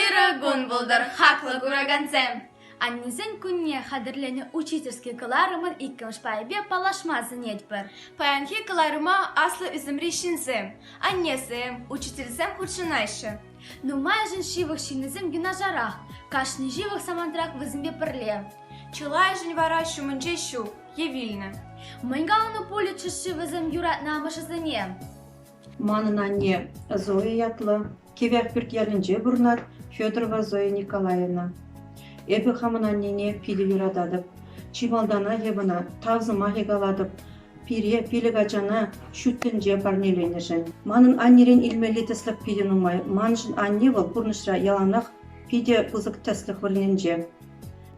Ырӑ кун пултӑр, хаклӑ куракансем! Аннесен кунне хатӗрленӗ учительски кӑларӑмӑн иккӗмӗш пайӗпе паллашма сӗнетпӗр. Паянхи кӑларӑма аслӑ ӳсӗмри ҫынсем, аннесем, учительсем хутшӑнаҫҫӗ. Нумайӑшӗн ҫывӑх ҫыннисем юнашарах, кашни ҫывӑх самантрах вӗсемпе пӗрле. Чылайӑшӗн вара ҫумӗнче ҫук е вилнӗ. Мӗн каланӑ пулӗччӗ-ши вӗсем юратнӑ амӑшӗсене? Манӑн анне Зоя ятлӑ Кивӗ Ахпӳрт ялӗнче пурӑнать, Федорова Зоя Николаевна. Эпӗ хамӑн аннене питӗ юрататӑп. Чи малтанах эп ӑна тав сӑмахӗ калатӑп пире пилӗк ачана ҫут тӗнче парнеленӗшӗн. Манӑн аннерен илмелли тӗслӗх питӗ нумай. Маншӑн анне вӑл пурнӑҫра яланах питӗ пысӑк тӗслӗх вырӑнӗнче.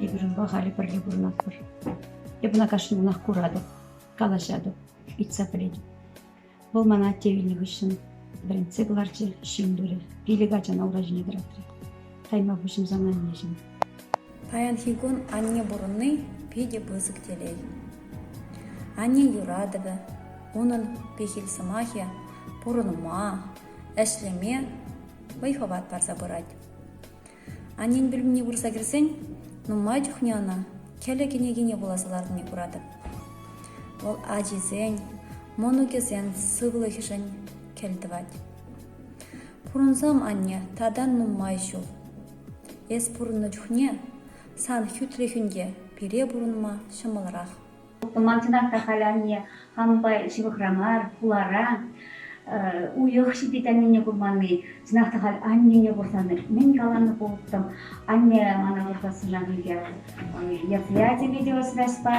Эпир унпа халӗ пӗрле пурӑнатпӑр. Эп ӑна кашни кунах куратӑп, калаҫатӑп, ыйтса пӗлетӗп. Вӑл мана атте вилнӗ хыҫҫӑн вӗрентсе кӑларчӗ, ҫын турӗ, пилӗк ачана ура ҫине тӑратрӗ. Тайма пуҫӑмсан аннеҫӗм. Паянхи кун анне пурӑнни питӗ пысӑк телей. Анне юратӑвӗ, унӑн пехил сӑмахӗ пурӑнма, ӗҫлеме вӑй-хӑват парса пырать. Аннен пӳлӗмне пырса кӗрсен нумай чухне ӑна кӗлӗ кӗнекине вуласа ларнине куратӑп. Вӑл ачисен, мӑнукӗсен сывлӑхӗшӗн кӗлтӑвать. Пурӑнсам, анне, татан нумай ҫул. Эс пурӑннӑ чухне сан хӳтлӗхӳн те пире пурӑнма ҫӑмӑлрах. Хупӑлмансенах та халӗ анне хамӑнпа ҫывӑхра мар, хулара. Уйӑх ҫитет аннене курманни. Чӑнах та халь аннене курсан мӗн каланӑ пулӑттӑм. Анне мана выртассана пике мероприятине те осраҫпа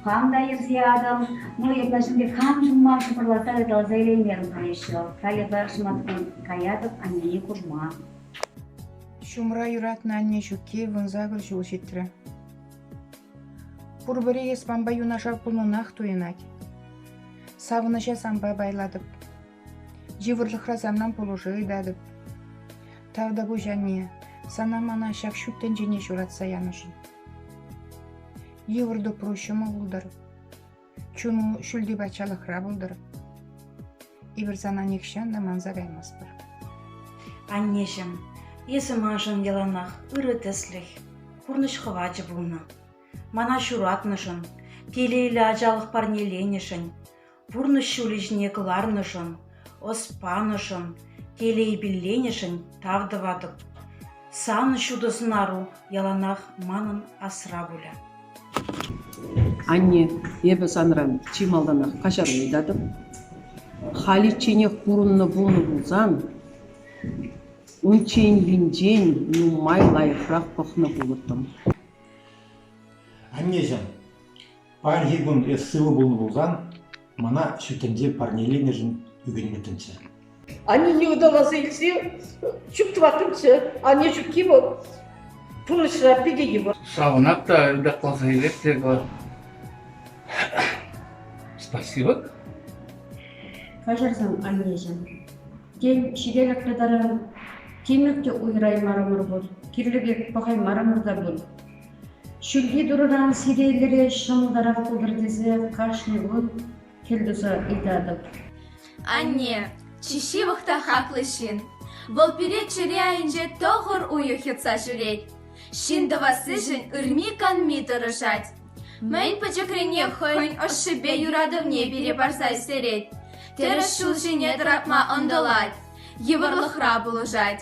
хам та йӗрсе атӑм. Ну, эпла ҫӳлте хам ҫумма шӑпӑрлата ыталаса илеймерӗм каяҫҫӗ. Халӗ пӗр шӑматкун каятӑп аннене курма. Ҫумра юратнӑ анне ҫукки вунсакӑр ҫул ҫитрӗ. Пурпӗри эспанпа юнашар пулнӑнах туйӑнать. Савӑнӑҫа санпа пайлатӑп. Йывӑрлӑхра санран пулӑшу ыйтатӑп. Тавтапуҫ, анне, сана мана ҫак ҫут тӗнчене ҫуратса янӑшӑн. Йывӑр тупру ҫӑмӑл пултӑр. Чун ҫӳлти патшалӑхра пултӑр. Эпир сана нихҫан та манса каймастпӑр. Аннеҫӗм, эсӗ маншӑн яланах ырӑ тӗслӗх, пурнӑҫ хӑвачӗ пулнӑ. Мана ҫуратнӑшӑн, телейлӗ ачалӑх парнеленӗшӗн, пурнӑҫ ҫулӗ ҫине кӑларнӑшӑн Ӑс панӑшӑн, телей пилленӗшӗн тав тӑватӑп. Сан ҫутӑ сӑнару яланах манӑн асра пулӗ. Анне, эпӗ санран чи малтанах каҫару ыйтатӑп. Халичченех пурӑннӑ пулнӑ пулсан, унчченхинчен нумай лайӑхрах пӑхнӑ пулӑттӑм. Аннеҫӗм, Паянхи кун эс сывӑ пулнӑ пулсан, мана ҫут тӗнче парнеленӗшӗн ӳкӗнмӗттӗмччӗ. Аннене ыталаса илсе ҫук тӑваттӑмччӗ. Анне ҫукки вӑл пурнӑҫра питӗ йывӑр. Савӑнап та ытакласа илет эпӗ. Спасибо. Каҫарсан, аннеҫӗм. Тен, ҫителӗклӗ таран тимӗр те уйӑраймарӑмӑр пуль, кирлӗ пек пӑхаймарӑмӑр та пуль. Ҫӳлти турӑран сиреллӗре ҫӑмӑлтарах пултӑр тесе кашни кун хӗл туса ыйтатӑп. Анне, чи ҫывӑх та хаклӑ ҫын. Вӑл пире чӗре айӗнче тӑхӑр уйӑх йӑтса ҫӳрет. Ҫын тӑвассишӗн ырми-канми тӑрӑшать. Мӗн пӗчӗкренех хӑйӗн ӑшшипе юратӑвне пире парса ӳстерет. Тӗрӗс ҫул ҫине тӑратма ӑнтӑлать, йывӑрлӑхра пулӑшать.